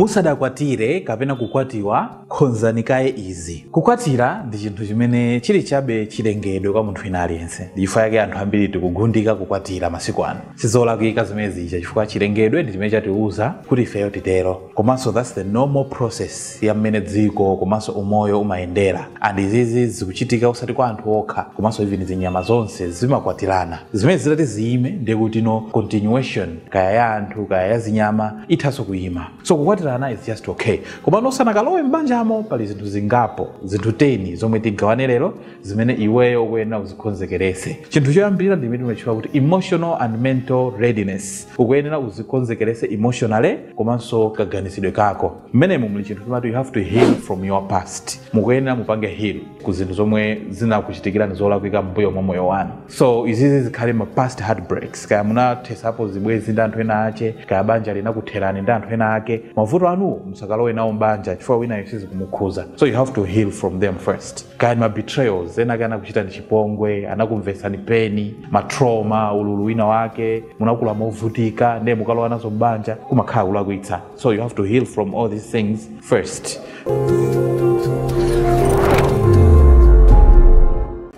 Musadakwatire kapena kukwatiwa, khonzani kaye izi. Kukwatira ndi chinthu chimene chili chabe chilengedwe kwa munthu wina aliyense. Ndi chifukwa chake anthu ambiri tikugundika kukwatira masiku ano. Sizolakwika zimene zija chifukwa chilengedwe ndi chimene chatiuza kuti ifeyo titero. Komanso that's the normal process ya mmene dziko komanso umoyo umayendera. And izizi zikuchitika osati kwa anthu okha komanso even zinyama zonse zimakwatirana. Zimenezi zitati ziime ndiye kuti no continuation kaya ya anthu kaya ya zinyama ithanso kuyima so kukwatirana is just okay komano usanakalowe m'banjamo pali zinthu zingapo zinthu 10 zomwe tigawane lero zimene iweyo ukuyenera uzikonzekerese chinthu choyambirira ndi chimene timatchula kuti emotional and mental readiness ukuyenera uzikonzekerese emotionally komanso kaganizidwe kako mmenemu muli chinthu timati you have to heal from your past mukuyenera mupange heal ku zinthu zomwe zinakuchitikirani zolakwika mbuyo mwa moyo wanu so izizi zikhale ma past heartbreaks kaya munathesapo zibwezi ndi anthu ena ache kaya banja linakutherani ndi anthu ena ake mavuto anuwo musakalowe nawo mbanja chifukwa winayo sizikumukhuza so you have to heal from them first kaya ndi ma betrayals ena ake anakuchitani chipongwe anakumvesani pain ma trauma ululu wina wake munakula movutika ndiye mukalowa nazo mbanja kumakhala kulakwitsa So you have to heal from all these things first.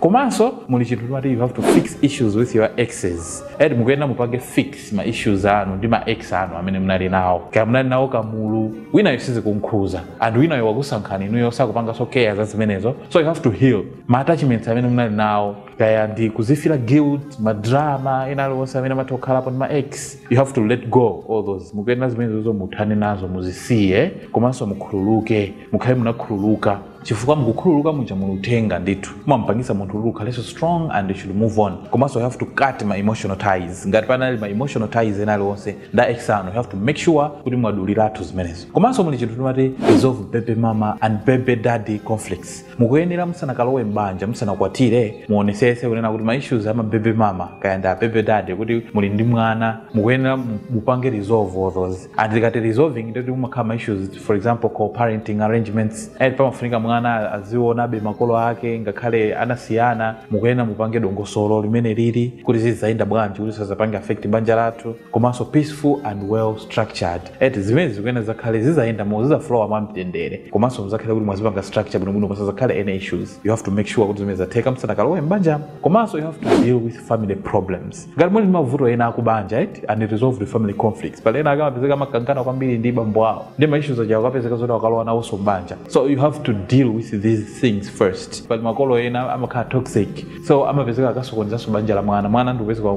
komanso muli chinthu timati you have to fix issues with your exes and mukuyenera mupange fix ma issues anu ndi ma ex anu amene munali nawo kaya munali nawo kamulu winayo sizikunkhuza and winayo wakusankhani inuyo sakupanganso care za zimenezo so you have to heal ma attachments amene munali nawo kaya ndi kuzifila guilt ma drama ena aliwonse amene amatha kukhalapo ndi ma ex you have to let go all those mukuyenera zimenezozo muthane nazo muzisiye komanso mukhululuke mukhale munakhululuka chifukwa mukukhululuka muja muli uthenga ndithu mumampangisa munthu kuti ukhalenso strong and you should move on komanso you have to cut ma emotional ties ngati panali ma emotional ties ena aliwonse nda ex anu you have to make sure kuti mwaduliratu zimenezo komanso muli chinthu timati resolve baby mama and baby daddy conflicts mukuyenera musanakalowe m'banja musanakwatire muonesese kunena kuti ma issues ama baby mama kaya ndi a baby daddy kuti muli ndi mwana mukuyenera mupange resolve all those and ndikati resolving ndikuti mumakhala ma issues for example co-parenting arrangements pamafunika mwana azionabe makolo ake ngakhale anasiyana mukuyenera mupange dongosolo limene lili kuti zizayenda bwanji kuti sazapange affect banja lathu komanso peaceful and well structured eti zimene zikuyenera zakhale zizayenda mo zizaflowa mwa mtendere komanso muzakhale kuti mwazipanga structure bwinobwino pasazakhale any issues you have to make sure kuti zimene zatheka musanakalowe m'banja komanso you have to deal with family problems ngati muli ndi mavuto ena akubanja eti unresolved family conflicts pali ena akumapezeka amakangana kwambiri ndi bambo awo ndi ma issues aja kupezeka zoti akalowa nawonso m'banja so you have to deal with these things first pali makolo ena amakhala toxic so amapezeka akasokonezanso banja la mwana mwana ndikupezeka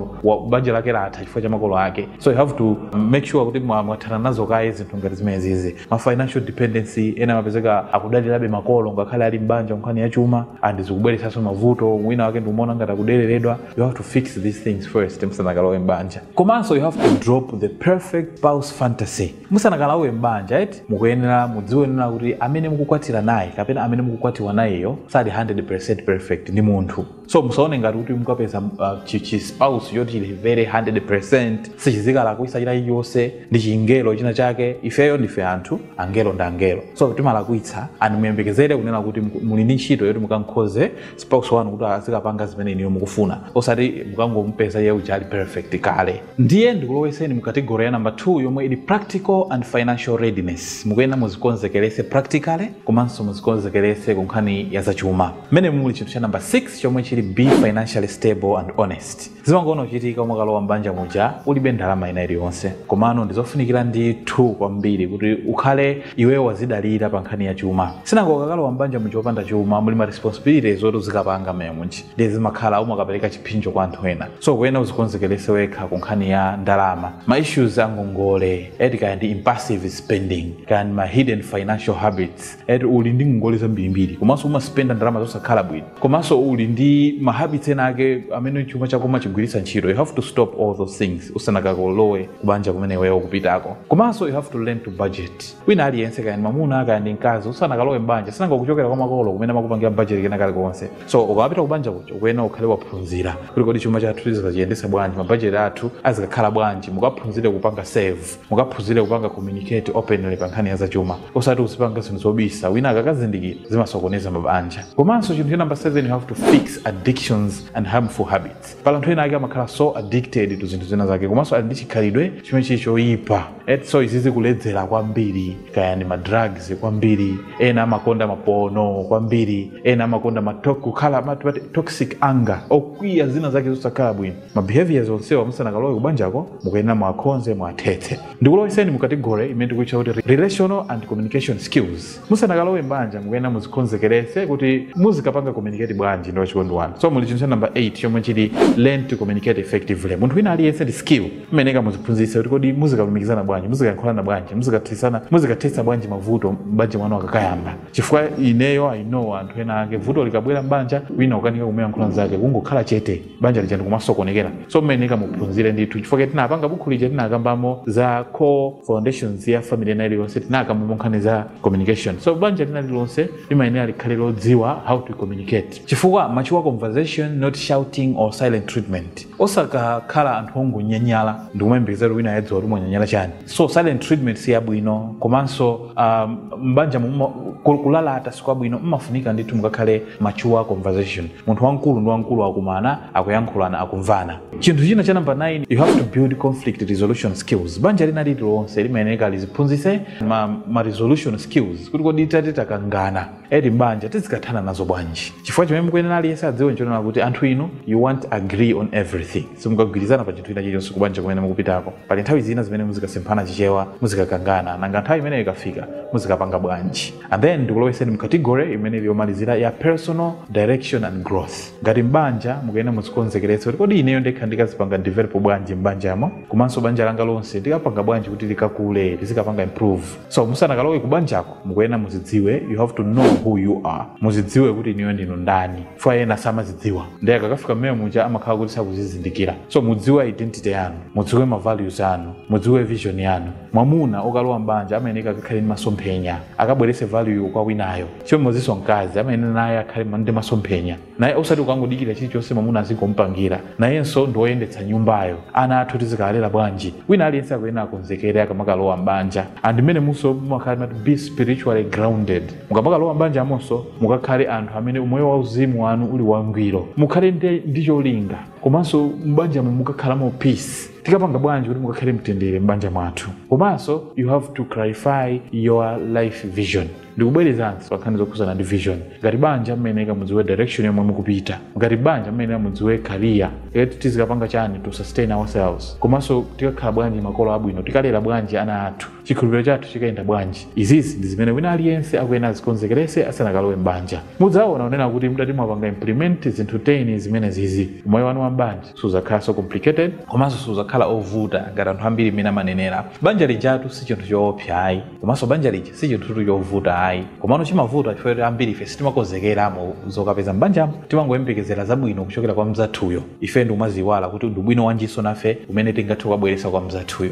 banja lake latha chifukwa cha makolo ake so you have to make sure kuti mwa- mwathana nazo kaye zinthu ngati zimenezizi ma financial dependency ena amapezeka akudalirabe makolo ngakhale ali mbanja nkhani ya chuma and zikubweretsanso mavuto wina wake ndikumaona ngati akudeleredwa you have to fix these things first musanakalowe mbanja komanso you have to drop the perfect spouse fantasy musanakalowe m'banja eti mukuyenera mudziwe kuti amene mukukwatira naye kapena amene mukukwatiwa nayeyo sali 100% perfect ndi munthu so musaone ngati kuti mukapeza uh, chi- chi spouse choti chili very 100% sichizikalakwisa china chilichonse ndi chingelo china chake ifeyo ndife anthu angelo ndi angelo so timalakwitsa and muyembekezere kunena kuti muku- muli ndi ntchito yoti mukankhoze spouse wanu kuti azikapanga zimene iniyo mukufuna osati mukangomupeza iye uja ali perfect kale ndiye ndikulowetseni mu category ya number 2 yomwe ili practical and financial readiness mukuyenera muzikonzekeretse practically komanso muzikonzekeretse ku nkhani ya zachuma mmene muli chinthu cha number 6 chomwe chili be financially stable and honest zimangoona kuchitika umakalowa mbanja muja ulibe ndalama ina iliyonse komano ndizofunikira ndithu kwambiri kuti ukhale iweyo wazidalira pa nkhani ya chuma sinanga ukakalowa mbanja muja opanda chuma muli ma responsibilities oti uzikapanga mmenemuja ndiye zimakhala umakapereka chiphinjo kwa anthu ena so kuyena uzikonzekerese wekha ku nkhani ya ndalama ma issues a ngongole eti kaya ndi impulsive spending kaya ndi ma hidden financial habits eti uli ndi ngongole zambirimbiri komanso umaspenda ndalama zosakhala bwino komanso uli ndi ma habits ena ake amene chuma chako umachigwiritsa ntchito you have to stop all those things usanakalowe kubanja kumene iweyo ukupitako komanso you have to learn to budget wina aliyense kaya ndi mamuna kaya ndi mkazi usanakalowe mbanja sinanga ukuchokera kwa makolo kumene amakupangira budget kena kalikonse so ukapita kubanja kuja ukuyenera ukhale waphunzira kuti kodi chuma chathu tizikachiyendesa bwanji mabajeti athu azikakhala bwanji mukaphunzire kupanga save mukaphunzire kupanga communicate openly pa nkhani ya zachuma osati uzipanga zinthu zobisa wina akakazindikira zimasokoneza mabanja komanso chinthu cha namba 7 you have to fix addictions and harmful habits pali anthu ena ake amakhala so addicted to zinthu zina zake komanso ali ndi chikhalidwe chimene chili choyipa eti so izizi kuledzera kwambiri kaya ndi madrugs kwambiri ena amakonda mapono kwambiri ena amakonda matok kukhala amati pati toxic anger okwiya zina zake zosakhala bwino ma behaviors onsewa musanakalowe kubanjako mukuyenera muwakhonze muwathetse ndikuloweseni mu category imene tikuitcha kuti relational and communication skills musanakalowe mbanja mukuyenera muzikonzekeretse kuti muzikapanga communicate bwanji ndi wachikondi wanu so muli chinthu cha number 8 chomwe chili learn to communicate effectively munthu wina aliyense ndi skill imeneyi muziphunzitse kuti kodi muzikalumikizana bwanji muzikayankhulana bwanji muzikathetsana muzikathetsa bwanji mavuto mbanja mwanu akakayamba chifukwa ineyo i know anthu ena ake vuto likabwera mbanja wina kukanika kumuyankhula mzake kungokhala chete banja lija ndikumasokonekera so mmayeneka muphunzire ndithu chifukwa tinapanga bukhu lija tinakambamo za core foundations ya family ina iliyonse tinakambamo nkhani za communication so banja lina lilonse limayenera likhale lodziwa how to communicate chifukwa mature conversation not shouting or silent treatment osakakhala anthu ongonyanyala ndikumayembekeza kuti wina ayadziwa kuti mwanyanyala chani so silent treatment si yabwino komanso um, mbanja muma- ku- kulalata sikwabwino mmafunika ndithu mukakhale mature conversation munthu wamkulu ndi wamkulu akumana akuyankhulana akumvana chinthu china cha namba 9 you have to build conflict resolution skills banja lina lililonse limayeneka liziphunzitse ma, ma resolution skills kuti kodi tati takangana eti mbanja tizikathana nazo bwanji chifukwa chimene mukuyenera aliyense adziwe nchonena kuti anthu inu you won't agree on everything simukagwirizana pa chinthu china chilichonse kubanja kumene mukupitako pali nthawi zina zimene muzikasemphana chichewa muzikakangana nanga nthawi imeneyo ikafika muzikapanga bwanji and then ndikuloweseni mcategory imene ili yomalizira ya personal direction and growth ngati mbanja mukuyenera muzikonzekeretse kuti kodi ineyo ndekha ndikazipanga develop bwanji mbanjamo komanso banja langa lonse ndikapanga bwanji kuti likakule lizikapanga improve so musanakalowe kubanjako mukuyenera muzidziwe you have to know who you are muzidziwe kuti inuyo ndinu ndani chifukwa ena samazidziwa ndiye akakafika mmene muja amakhala kuti sakuzizindikira so mudziwe identity yanu mudziwe ma values anu mudziwe vision yanu mwamuna okalowa mbanja amayeneka akakhale ndi masomphenya akabwerese value kwa winayo chimodzimodzinso mkazi amayenera naye akhale ndi masomphenya naye osati kukangodikira chilichonse mwamuna azingompangira nayenso ndi woyendetsa nyumbayo ana athu tizikalera bwanji wina aliyense akuyenera akonzekere akamakalowa mbanja and mmenemonso mumakhala kuti be spiritually grounded mukamakalowa m'banjamonso mukakhale anthu amene umoyo wauzimu wanu uli wangwiro mukhale ndi, ndi cholinga komanso m'banjamo mukakhalamo peace tikapanga bwanji kuti mukakhale mtendere m'banja mwathu komanso you have to clarify your life vision ndikubwerezanso pankhani zokhuzana ndi vision ngati banja mmayeneka mudziwe direction yomwe mukupita ngati banja mmayeneka mudziwe career kuti tizikapanga chani to sustain ourselves komanso tikakhala bwanji makolo abwino tikalera bwanji ana athu Chikhulupiriro chathu chikayenda bwanji? Izizi ndi zimene wina aliyense akuyenera azikonzekeretse asanakalowe m'banja. Mudzaona kunena kuti mutati mwapanga implement zinthu 10 zimenezizi, umoyo wanu wa m'banja sudzakhalanso complicated, komanso sudzakhala ovuta ngati anthu ambiri mmene amanenera, banja lijatu si chinthu choopsa ayi, komanso banja lija si chinthutu chovuta ayi, komano chimavuta chifukwa choti ambirife sitimakonzekeramo zokapeza m'banjamo, timangoyembekezera zabwino kuchokera kwa mnzathuyo, ife ndi kumadziiwala kuti ndi ubwino wanjinso nafe umene tingathe kukabweretsa kwa mnzathuyo.